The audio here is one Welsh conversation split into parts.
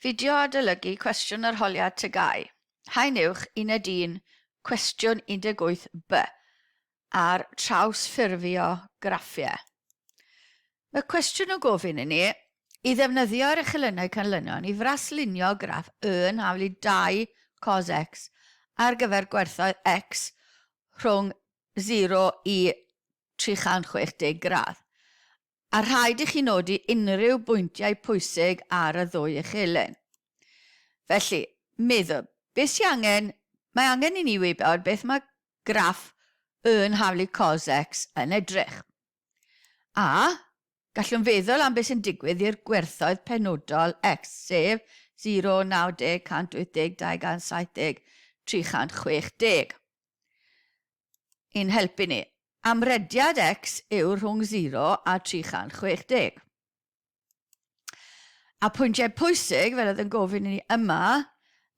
Fideo adolygu cwestiwn arholiad TGAU, Haen Uwch, Uned Un, Cwestiwn 18 B, ar trawsffurfio graffiau. Mae cwestiwn yn gofyn i ni i ddefnyddio yr echelynnau canlynol i fraslunio graff Y yn hafl i 2 cos X ar gyfer gwerthoedd X rhwng 0 i 360 gradd. A rhaid i chi nodi unrhyw bwyntiau pwysig ar y ddwy echelen. Felly, meddwl, beth sy'n angen, mae angen i ni wybod beth mae graff yn haflu cos X yn edrych. A, gallwn feddwl am beth sy'n digwydd i'r gwerthoedd penodol X, sef 0, 90, 180, 270, 360. i'n helpu ni. Amrediad x yw rhwng 0 a 360. A pwyntiau pwysig, fel oedd yn gofyn i ni yma,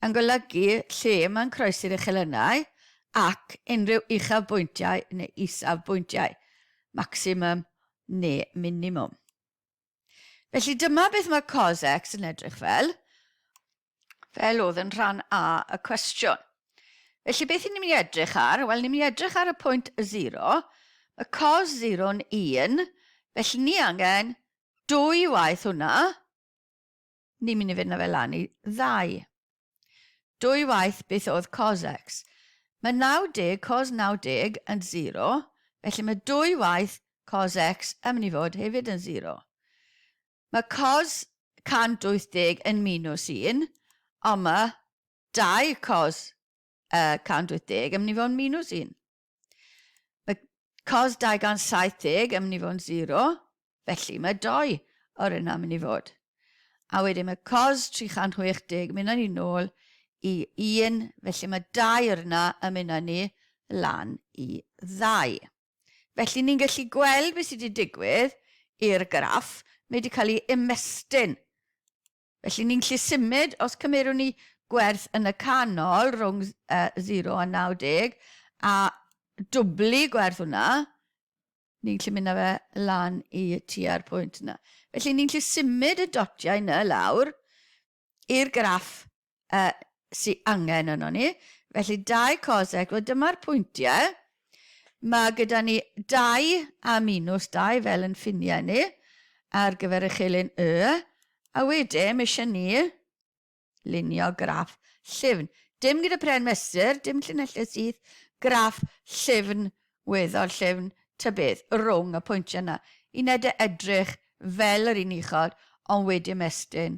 yn golygu lle mae'n croesi'r uchelennau ac unrhyw uchafbwyntiau neu isafbwyntiau, maximum neu minimum. Felly dyma beth mae cos x yn edrych fel, fel oedd yn rhan A y cwestiwn. Felly beth ni'n mynd i edrych ar? Wel, ni'n mynd i edrych ar y pwynt 0. Mae cos 0 yn 1, felly ni angen dwy waith hwnna. Ni'n mynd i fynd â fe lan i ddau. Dwy waith beth oedd cos X. Mae 90 cos 90 yn sero, felly mae dwy waith cos X yn mynd i fod hefyd yn sero. Mae cos 180 yn minws 1, ond mae dau cos uh, 180 yn mynd i fod yn minws 1. Mae cos 270 yn mynd i fod yn 0, felly mae 2 o'r yna yn mynd i fod. A wedyn mae cos 360 yn mynd â ni nôl i 1, felly mae 2 o'r yna yn mynd â ni lan i 2. Felly ni'n gallu gweld beth sydd wedi digwydd i'r graff, mae wedi cael ei ymestyn Felly ni'n gallu symud, os cymerwn ni gwerth yn y canol rhwng 0 a 90 a dwblu gwerth hwnna, ni'n gallu mynd â fe lan i tua'r pwynt yna. Felly ni'n gallu symud y dotiau yna lawr i'r graff yy sy angen ynon ni. Felly dau cosec, wel dyma'r pwyntiau. Mae gyda ni dau a minws dau fel yn ffiniau ni ar gyfer y chelyn y. A wedyn mae eisiau ni lunio graff llyfn. Dim gyda pren mesur, dim llinellau syth, graff llyfn, weddol llyfn, ta beth, rwng y pwyntiau yna. Uned e edrych fel yr un uchod, ond wedyn mestyn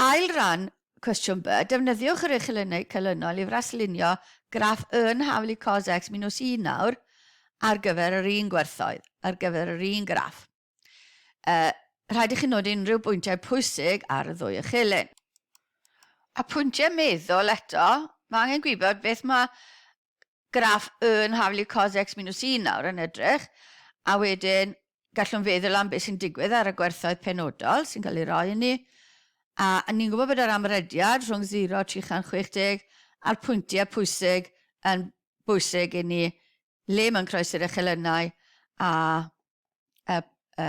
Ail ran, Cwestiwn B, Defnyddiwch yr uchelennau canlynol i fraslunio graff yn haflu cos x minws un nawr ar gyfer yr un gwerthoedd, ar gyfer yr un graff. E, rhaid i chi nodi unrhyw bwyntiau pwysig ar y ddwy uchelen. A pwyntiau meddwl eto, mae angen gwybod beth mae graff Y Nhaflu Cos X Minus Un nawr yn edrych, a wedyn gallwn feddwl am beth sy'n digwydd ar y gwerthoedd penodol sy'n cael ei roi i ni. A ni'n gwybod bod yr amrediad rhwng 0 a 360 a'r pwyntiau pwysig yn bwysig i ni, le mae'n croesi'r echelynau a y, y,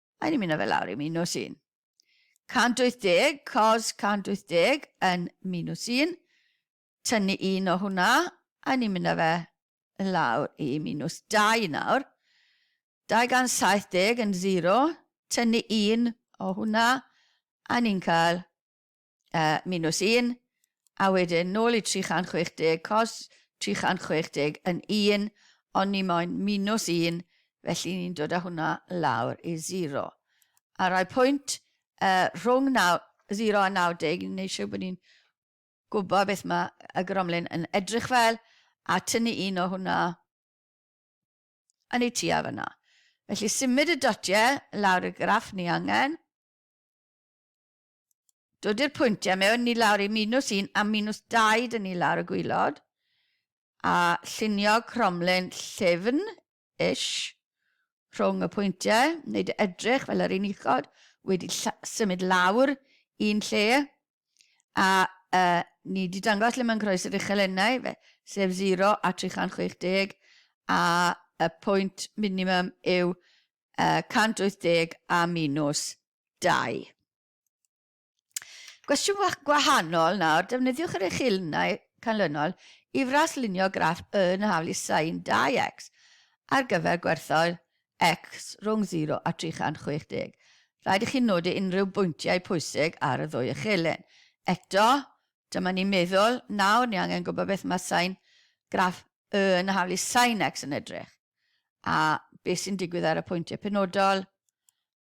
Mae'n ymuno fe lawr i minws un. 180 cos 180 yn minws un. Tynnu un o hwnna, a ni'n mynd â fe lawr i minws 2 nawr. 270 yn 0, tynnu un o hwnna, a ni'n cael uh, minus 1, a wedyn nôl i 360, cos 360 yn 1, ond ni moyn minus 1, felly ni'n dod â hwnna lawr i 0. A rai pwynt uh, rhwng 9, 0 a 90, neu eisiau bod ni'n gwybod beth mae y gromlin yn edrych fel, a tynnu un o hwnna yn ei tua fyna. Felly symud y dotiau lawr y graff ni angen, dodi'r pwyntiau mewn ni lawr i minws un a minws dau dyn ni lawr y gwylod a llunio cromlin llyfn ish rhwng y pwyntiau, wneud e edrych fel yr un uchod wedi symud lawr un lle a uh, ni wedi dangos lle mae'n croes yr uchel ennau, fe, sef 0 a 360 a y pwynt minimum yw uh, 180 a minws dau. Gwestiwn gwahanol nawr, defnyddiwch yr uchelnau canlynol i fraslunio graff yn y haflu sin 2x ar gyfer gwerthoedd x rhwng 0 a 360. Rhaid i chi nodi unrhyw bwyntiau pwysig ar y ddwy uchelyn. Eto, dyma ni'n meddwl, nawr ni angen gwybod beth mae sain graff y yn y haflu sin x yn edrych, a beth sy'n digwydd ar y pwyntiau penodol,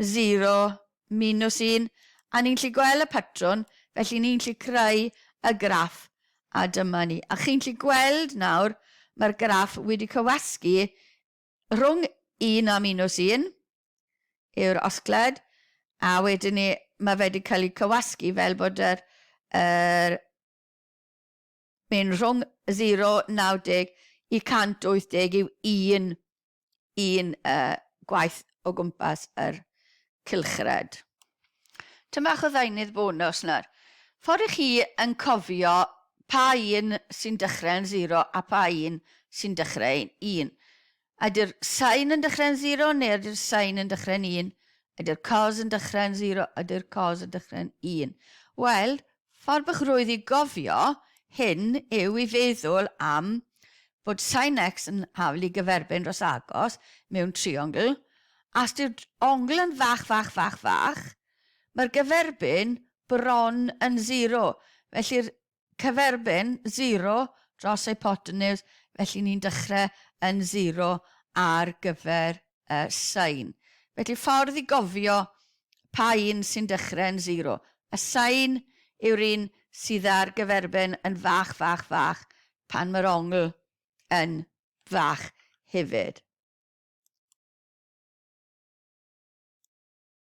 0, minws 1, a ni'n gallu gweld y patrwn, felly ni'n gallu creu y graff, a dyma ni. A chi'n gallu gweld nawr, mae'r graff wedi cywasgu rhwng 1 a minws 1 yw'r osgled, a wedyn ni, mae fe wedi cael ei cywasgu fel bod yr, yr Mae'n rhwng 0, 90, i 180 yw un, un uh, gwaith o gwmpas yr cylchred. Tyn bach o ddeunydd bonus nawr. Ffordd i chi yn cofio pa un sy'n dechrau yn 0 a pa un sy'n dechrau yn 1. Ydy'r sain yn dechrau'n sero neu ydy'r sain yn dechrau'n un? Ydy'r cos yn dechrau'n sero? Ydy'r cos yn dechrau'n un? Wel, ffordd bych rwydd i gofio hyn yw i feddwl am fod sain x yn hafl i gyferbyn dros agos mewn triongl, a os yw'r ongl yn fach, fach, fach, fach, mae'r gyferbyn bron yn sero. Felly'r Cyferbyn, zero, dros hypotenws, felly ni'n dechrau yn zero ar gyfer y sain. Felly ffordd i gofio pa un sy'n dechrau yn zero, y sain yw'r un sydd â'r gyferbyn yn fach, fach, fach, pan mae'r ongl yn fach hefyd.